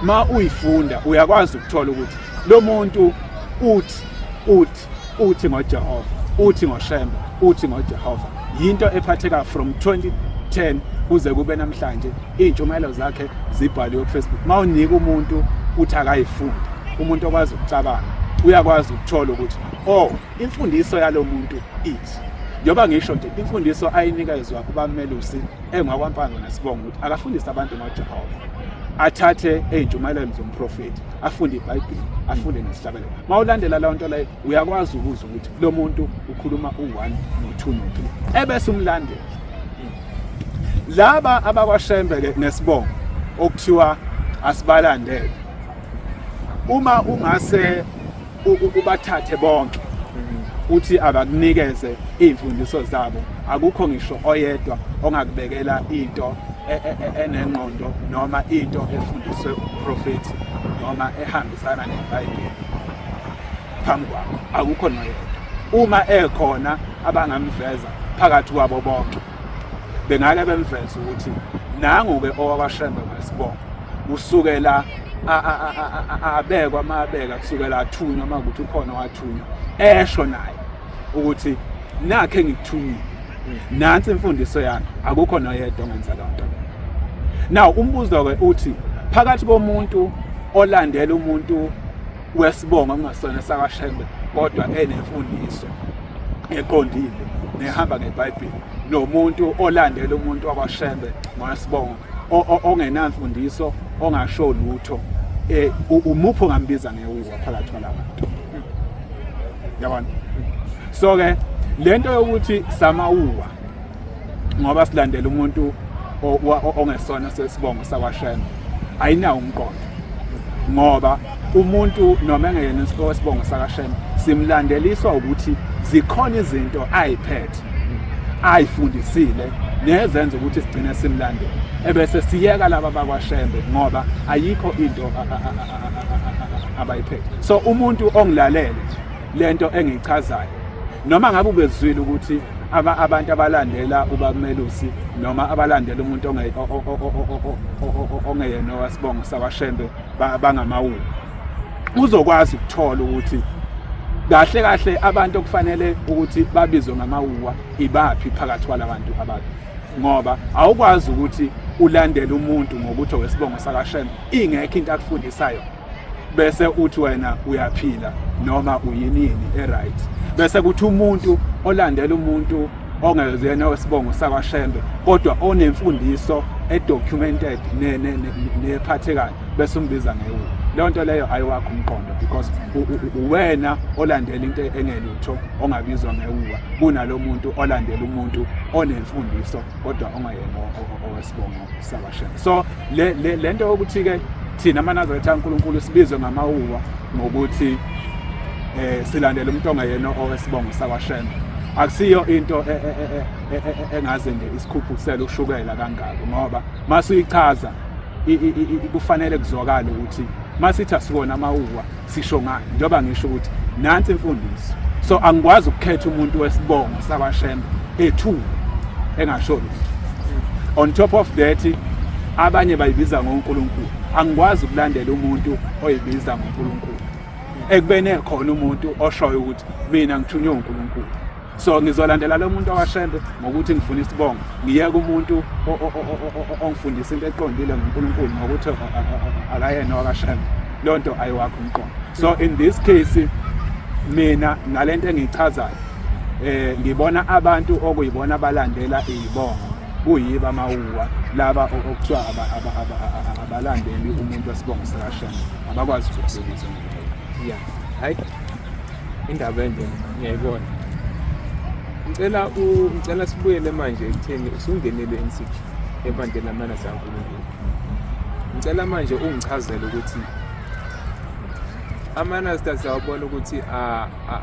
ma uyifunda uyakwazi ukuthola ukuthi lo muntu uthi uthi uthi ngoJehova uthi ngoShembe uthi ngoJehova yinto ephatheka from 2010 kuze kube namhlanje izintshumayelo zakhe zibhaliwe kuFacebook mawunika umuntu uthi akayifunde umuntu okwazi ukucabanga uyakwazi ukuthola ukuthi oh imfundiso yalomuntu ithi njengoba ngisho nje imfundiso ayinikezwa kubamelusi engwakwampanga nesibongo ukuthi akafundise abantu ngoJehova athathe ezintshumayelweni zomprofeti afunde ibhayibheli afunde nesihlabani uma ulandela leyo nto leyo uyakwazi ukuzwa ukuthi lo muntu ukhuluma u-one no-two no-three ebese umlandela laba abakwashembe-ke nesibongo okuthiwa asibalandele uma ungase ubathathe bonke uthi abakunikeze iy'mfundiso zabo akukho ngisho oyedwa ongakubekela into e, e, e, enengqondo noma into efundiswe uprofethi noma ehambe sana neBhayibheli phambi kwakho akukho noyedwa uma ekhona abangamveza phakathi kwabo bonke bengake bemveza ukuthi nangu-ke owakashembe wesibongo usukela abekwa mabeka kusukela athunywa uma kuthi ukhona wathunywa esho naye ukuthi nakhe ngikuthumile nansi imfundiso yami akukho noyedwa ongenza loo nto now umbuzo-ke uthi phakathi komuntu olandela umuntu wesibongo kungasona sakashembe kodwa enemfundiso eqondile nehamba ngebhayibheli nomuntu olandela umuntu wakwashembe ngowesibongo ongenamfundiso ongasho lutho um umuphi ongambiza ngewuwa phakathi kwalabantu yabona so ke lento yokuthi samawuwa ngoba silandela umuntu ongesona sesibongo sakwashema ayinawo umqondo ngoba umuntu noma engeyena isibongo sakashema simlandeliswa ukuthi zikhona izinto ayiphethe ayifundisile nezenza ukuthi sigcine simlandele ebese siyeka laba bakwashembe ngoba ayikho into abayiphethe so umuntu ongilalele lento engichazayo noma ngabe ubezwile ukuthi aba abantu abalandela ubamelusi noma abalandela umuntu ongeyena wasibongo sakwashembe bangamawulu uzokwazi ukuthola ukuthi kahle kahle abantu okufanele ukuthi babizwe ngamawuwa ibaphi phakathi kwalabantu abantu ngoba awukwazi ukuthi ulandele umuntu ngokuthi owesibongo sakashembe ingekho into akufundisayo bese uthi wena uyaphila noma uyinini eright bese kuthi umuntu olandela umuntu ongezena wesibongo sakwaShembe kodwa onemfundiso edocumented nephathekayo bese umbiza ngewu leyo nto leyo ayiwakho umqondo because uwena olandela into engelutho ongabizwa ngewuwa kunalo muntu olandela umuntu onemfundiso kodwa ongayena owesibongo so le le lento yokuthi ke thina amanazareth kaNkulunkulu sibizwe ngamawuwa ngokuthi eh silandela umuntu ongayena owesibongo sakwaShembe akusiyo into e, e, e, engaze nje isikhuphusele ushukela kangako ngoba masuyichaza kufanele kuzwakale ukuthi masithi asikona amawuwa sisho ngani njengoba ngisho ukuthi nansi imfundiso so angikwazi ukukhetha umuntu wesibongo sakwashembe ethu engasho lutho on top of that abanye bayibiza ngoNkulunkulu angikwazi ukulandela umuntu oyibiza ngoNkulunkulu ekubene khona umuntu oshoyo ukuthi mina ngithunywe uNkulunkulu so ngizolandela lo muntu owashembe ngokuthi ngifuna isibongo ngiyeke umuntu ongifundisa into eqondile ngonkulunkulu ngokuthi akayena wakashembe loo nto ayiwakho umqondo so in this case mina ngale nto engiyichazayo um ngibona abantu okuyibona abalandela iyibongo kuyiba amawuwa laba okuthiwa abalandeli umuntu wesibongo sikashembe abakwazi ukuzibukisa ya hayi indaba ende ngiyayibona ngicela ngicela sibuyele manje ekutheni usungenele insiki ebandleni lamana sankulunkulu ngicela manje ungichazele ukuthi amanasta siyawabona ukuthi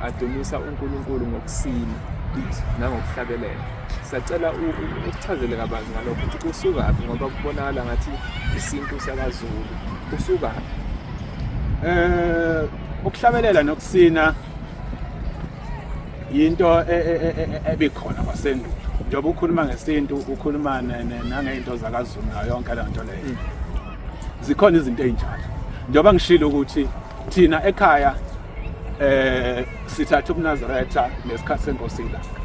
adumisa unkulunkulu ngokusina nangokuhlabelela sacela ukuchazele kabanzi ngalokho ukuthi kusukaphi ngoba kubonakala ngathi isintu sakazulu kusukaphi um eh, ukuhlabelela nokusina yinto e, e, e, ebikhona kwasendulo njengoba ukhuluma ngesintu ukhuluma nangezinto zakazulu nayo yonke le nto leyo zikhona izinto ezinjalo njengoba ngishilo ukuthi thina ekhaya eh sithatha ubunazaretha nesikhathi senkosi ilanga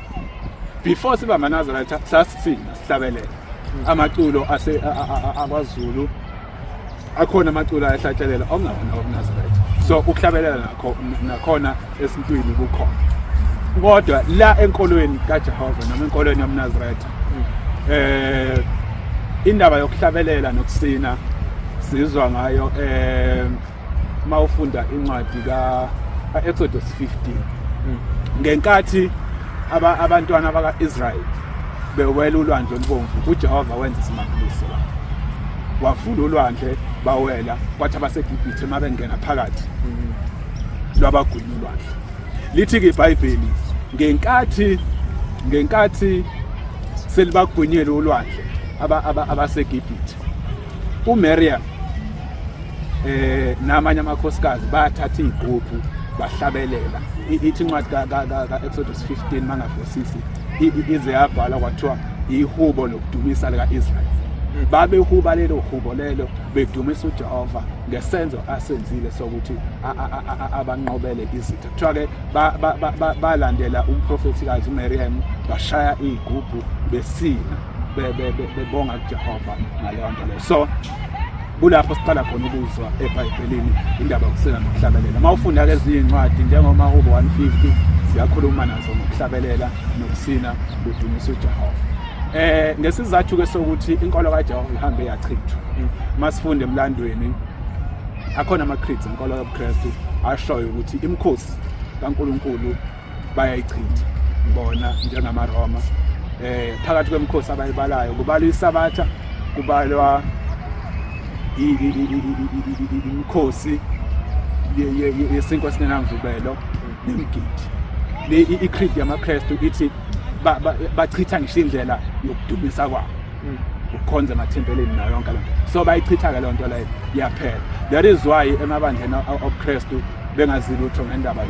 before siba amanazaretha sasithina sihlabelela amaculo ase akwazulu akhona amaculo ayahlatshelela okungabona okunasibetho so ukuhlabelela nakho nakhona esintwini kukhona kodwa la enkolweni kaJehova noma enkolweni yomNazaretha eh indaba yokuhlabelela nokusina sizwa ngayo eh uma ufunda incwadi ka-exodus 15 hmm. ngenkathi abantwana baka-israyeli bewela ulwandle olubomvu ujehova wenza isimangaliso wavula ulwandle bawela kwathi abasegibhithe uma bengena phakathi hmm. lwabagwini ulwandle lithi-ke ibhayibheli ngenkathi ngenkathi selibagwinyele ulwandle abasegibhithe umariam eh namanye amakhosikazi bathatha igroupu bahlabelela ithi incwadi ka-exodus 15 mangabhosisi ize yabhalwa kwathiwa ihubo lokudumisa lika-israyeli hmm. babehuba lelo hubo lelo bedumisa ujehova ngesenzo asenzile sokuthi abanqobele izitha kuthiwa-ke balandela umprofethikazi umeriyam bashaya iy'gubhu besina bebonga kujehova ngaleyo nto leyo so kulapho siqala khona ukuzwa ebhayibhelini indaba yokusela nokuhlabelela uma ufunda-ke ezinye iy'ncwadi njengomahubo 150 siyakhuluma nazo ngokuhlabelela nokusina kudumisa ujehova eh ngesizathu ke sokuthi inkolo kaJehova ihambe yachithwa masifunde emlandweni akhona ama creeds inkolo yobuKristu ashoyo ukuthi imkhosi kaNkuluNkulu bayayichitha bona njengamaroma eh phakathi kwemkhosi abayibalayo kubalwa isabatha kubalwa imkhosi yesinkwa singenamvubelo nemgidi le i-creed yamaKristu ithi bachitha ngisho indlela yokudumisa kwabo ukukhonza emathempelini nayo yonke lento so bayichitha-ke leyo nto leyo yaphela that is why emabandleni obukhristu bengazi lutho ngendaba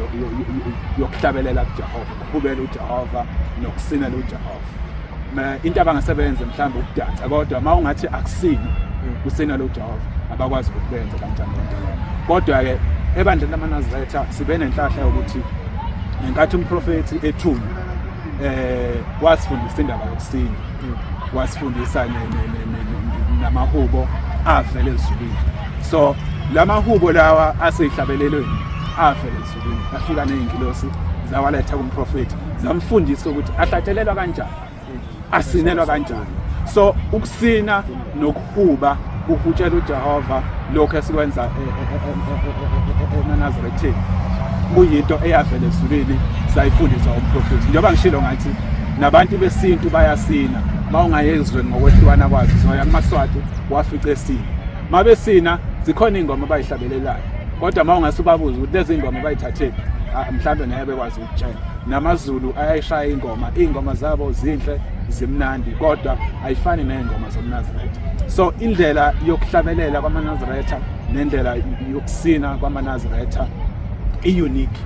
yokuhlabelela kujehova ukubukela ujehova nokusinela ujehova into abangasebenze mhlawumbe ukudansa kodwa uma ungathi akusini mm. kusinela ujehova abakwazi ukuthi benze kanjani lento leyo kodwa-ke ebandleni lamanazaretha sibe nenhlahla yokuthi ngenkathi umprofethi ethunywa um wasifundisa indaba yokusina wasifundisa namahubo avele ezulwini so la mahubo lawa aseyihlabelelweni avele ezulwini afika ney'ngilosi zawaletha kumprofethi zamfundisa ukuthi ahlatshelelwa kanjani asinelwa kanjani so ukusina nokuhuba ukutshela uJehova lokho esikwenza e, e, e, eNazarethini kuyinto eyavela ezulwini sayifundiswa umprofethi njengoba ngishilo ngathi nabantu besintu bayasina uma ungayezwe ngokwehlukana kwazo zoya kumaswati wafica esina uma besina zikhona iy'ngoma abayihlabelelayo kodwa uma ungase ubabuze ukuthi lezi ngoma bayithathephi ah, mhlawumbe naye bekwazi ukutshela namazulu ayayishaya ingoma iy'ngoma zabo zinhle zimnandi kodwa ayifani ney'ngoma zomnazaretha so indlela yokuhlabelela kwamanazaretha nendlela yokusina kwamanazaretha i-unique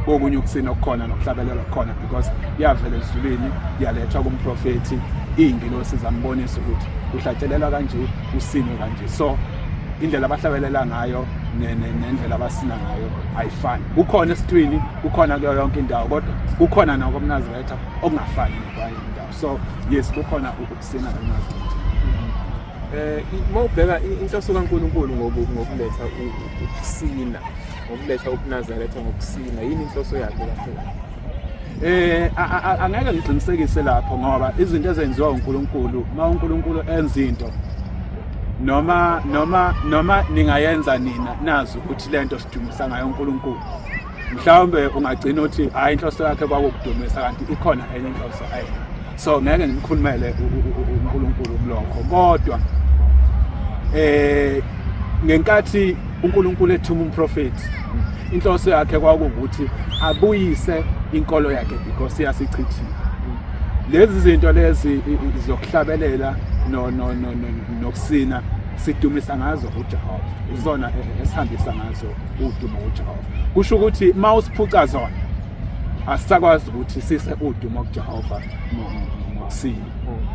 kokunye ukusina okukhona nokuhlabelela okukhona because yavela ezulwini yalethwa kumprofethi iy'ngilosi zambonisa ukuthi kuhlatshelelwa kanje usinwe kanje so indlela abahlabelela ngayo nendlela abasina ngayo ayifani kukhona esitwini kukhona kuyo yonke indawo kodwa kukhona nakomnaziretha okungafani nokwayo indawo so yes kukhona ukusina emazini eh uma ubheka inhloso kaNkuluNkulu ngokuletha ukusina ngokuletha ukunazaretha ngokusina yini inhloso yakhe lapho eh angeke ngiqinisekise lapho ngoba izinto ezenziwa uNkulunkulu uma uNkulunkulu enza into noma noma noma ningayenza nina nazi ukuthi lento sidumisa ngayo uNkulunkulu mhlawumbe ungagcina uthi hayi inhloso yakhe kwakukudumisa kanti ikhona enye inhloso ayi so ngeke ngimkhulumele uNkulunkulu kulokho kodwa eh ngenkathi uNkulunkulu ethuma umprofeti inhloso yakhe kwakuwukuthi abuyise inkolo yakhe because yasichithile lezi zinto lezi zokuhlabelela no no no nokusina sidumisa ngazo uJehova izona e, e, esihambisa ngazo udumo kuJehova kusho ukuthi uma usiphuca zona asisakwazi ukuthi sise udumo kuJehova ngokusile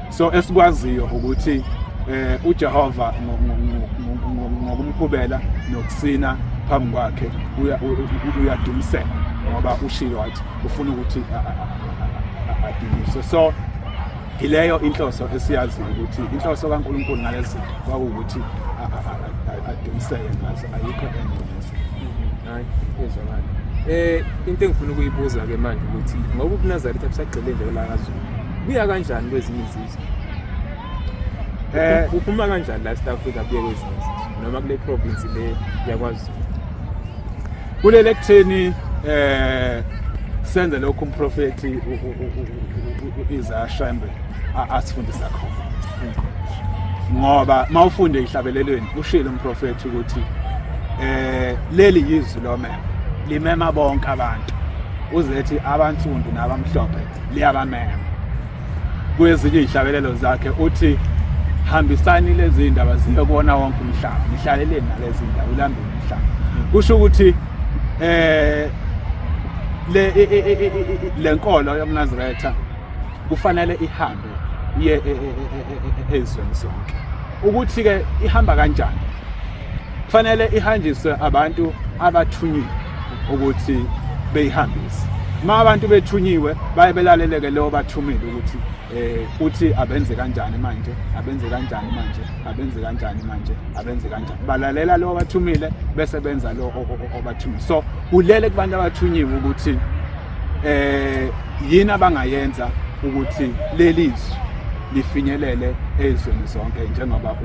so esikwaziyo ukuthi eh uJehova ngokumkhubela nokusina phambi kwakhe uyadumisela ngoba ushilo wathi ufuna ukuthi adumiswe so yileyo inhloso esiyaziyo ukuthi inhloso kaNkulunkulu ngalezi zinto kwakuwukuthi adumiseke ngazo ayikho enye neze hayi ezwakala eh into engifuna ukuyibuza ke manje ukuthi ngoba ubunazaretha busagcile nje lakazulu buya kanjani kwezinye izizwe eh uphuma kanjani la South Africa buye kwezinye izizwe noma kule province le yakwazi kulele kutheni eh senze lokho umprofeti izashembe asifundisa khona ngoba mawufunde ihlabelelweni ushilo umprofethi ukuthi eh leli yizwi lomema limema bonke abantu uzethi abansundu nabamhlophe liyabamema kwezinye izihlabelelo zakhe uthi hambisani lezi ndaba ziye kubona wonke umhlaba nihlaleleni nalezi ndaba ulambe umhlaba kusho ukuthi eh le e, e, e, lenkolo yomnazaretha kufanele ihambe ye ezweni zonke ukuthi ke ihamba kanjani kufanele ihanjiswe abantu abathunyiwe ukuthi beyihambise uma abantu bethunyiwe baye belaleleke leyo bathumile ukuthi eh uthi abenze kanjani manje abenze kanjani manje abenze kanjani manje abenze kanjani balalela lo bathumile bese benza lo obathumile so kulele kubantu abathunyiwe ukuthi eh yini abangayenza ukuthi leli zwi lifinyelele ezweni zonke njengoba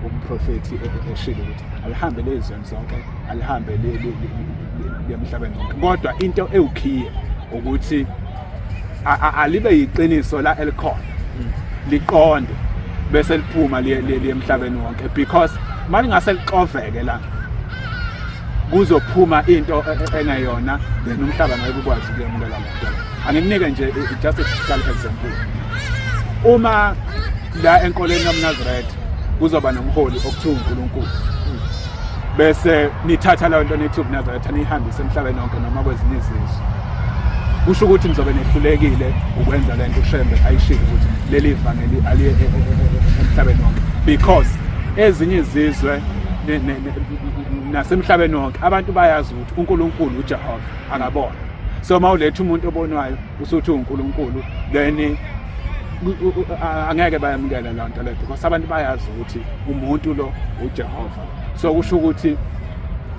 umprofethi eshilo ukuthi alihambe lezweni zonke alihambe lemhlabeni wonke kodwa into ewukhiye ukuthi alibe yiqiniso la elikhona mm. liqonde bese liphuma liye emhlabeni wonke because malingase lixoveke la kuzophuma into e, e, engeyona then umhlaba ngeke ukwazi ukuyamukela lento anginike nje just a typical example uma la enkoleni yomnazaretha kuzoba nomholi okuthiwa uNkulunkulu bese nithatha leyo nto nithi ubunazaretha niyihambise emhlabeni wonke noma kwezinye izizwe kusho ukuthi nizobe nehlulekile ukwenza le nto ushembe ayishilo ukuthi leli vangeli aliye e- e- e- emhlabeni wonke because ezinye izizwe nasemhlabeni wonke abantu bayazi ukuthi unkulunkulu ujehova akabona so uma uletha umuntu obonwayo usuthi unkulunkulu then angeke bayamukele loo nto leyo because abantu bayazi ukuthi umuntu lo uJehova so kusho ukuthi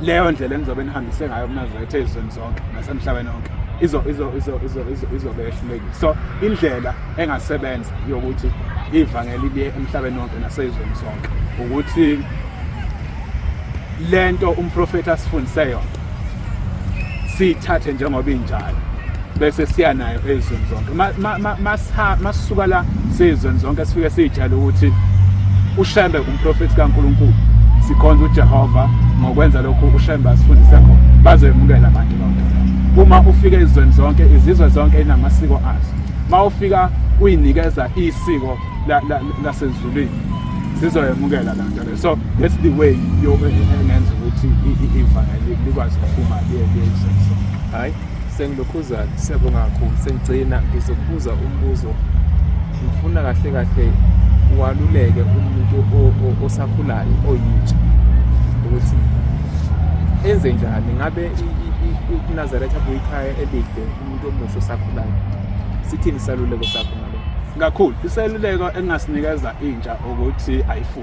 leyo ndlela enizobe nihambise ngayo uNazaretha ezweni zonke nasemhlabeni wonke izo izo izo izo izo izobe ehlulekile so indlela engasebenza yokuthi ivangeli liye emhlabeni wonke nasezweni sonke ukuthi lento umprofeti asifundise yona siyithathe njengoba injalo bese siya nayo ezweni zonke masisuka la siyizweni zonke sifike siyitshale ukuthi ushembe umprofethi kaNkuluNkulu sikhonza uJehova ngokwenza lokhu ushembe asifundise khona bazoyemukela abantu bonke uma ufika ezweni zonke izizwe zonke inamasiko azo uma ufika uyinikeza isiko lasezulwini sizoyemukela la nto so that's the way yokunenza ukuthi ivangeli likwazi ukuphuma liyelisasa hayi sengilokhuzana siyabonga kakhulu sengigcina ngizokubuza umbuzo ngifuna kahle kahle waluleke umuntu osakhulayo oyitsha ukuthi enze njani ngabe inazaretha buyikhaya elide umuntu omusha osakhulayo sithini isaluleko sakho ngalo kakhulu iseluleko engingasinikeza intsha ukuthi ayifunde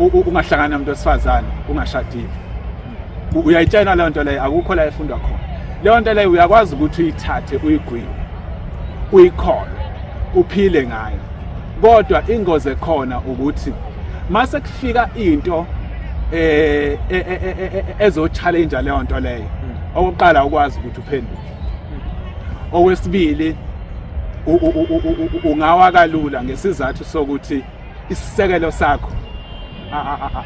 ungahlangana nomuntu wesifazane ungashadile uyayitshena leyo nto leyo akukho la efundwa khona leyo nto leyo uyakwazi ukuthi uyithathe uyigwile uyikhona uphile ngayo kodwa ingozi ekhona ukuthi mase kufika into eh ezochallenge leyo nto leyo okuqala ukwazi ukuthi uphenduke okwesibili ungawa kalula ngesizathu sokuthi isisekelo sakho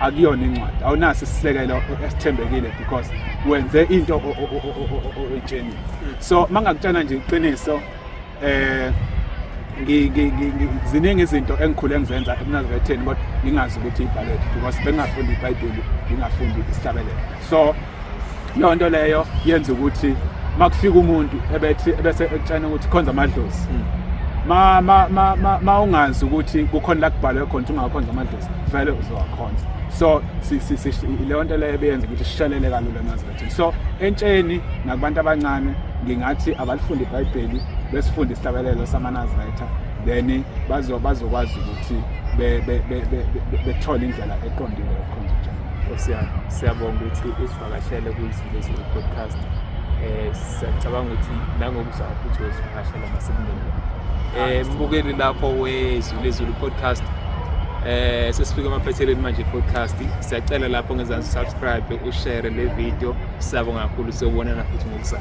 akuyona incwadi awunaso isisekelo esithembekile because wenze into oyitshenile so mangakutshana nje iqiniso eh ziningi izinto engikhule ngizenza ekunazibetheni kodwa ngingazi ukuthi ibhaledi because bengingafundi ibhayibheli ngingafundi isihlabelelo so leyo nto leyo yenza ukuthi uma kufika umuntu ebethi ebese ekutshena ukuthi khonza amadlozi hmm. ma ma ma ma, ma ungazi ukuthi kukhona la kubhalwe khona ukuthi ungakhonza amadlozi vele uzowakhonza so leyo nto leyo ebeyenza ukuthi sishelele kalula emazethini so entsheni nakubantu abancane ngingathi abalifunde ibhayibheli besifunde isihlabelelo samanazaretha then bazokwazi ukuthi bethole indlela eqondile siyabonga ukuthi usivakashele kuyizivezi podcast um siyacabanga ukuthi nangokuzaa futhi wezivakashela masekunini um mbukeli lapho wezulezulu podcast eh sesifika emaphethelweni manje podcast siyacela lapho ngezansi subscribe ushare le video sabo kakhulu siyobonana futhi ngokusasa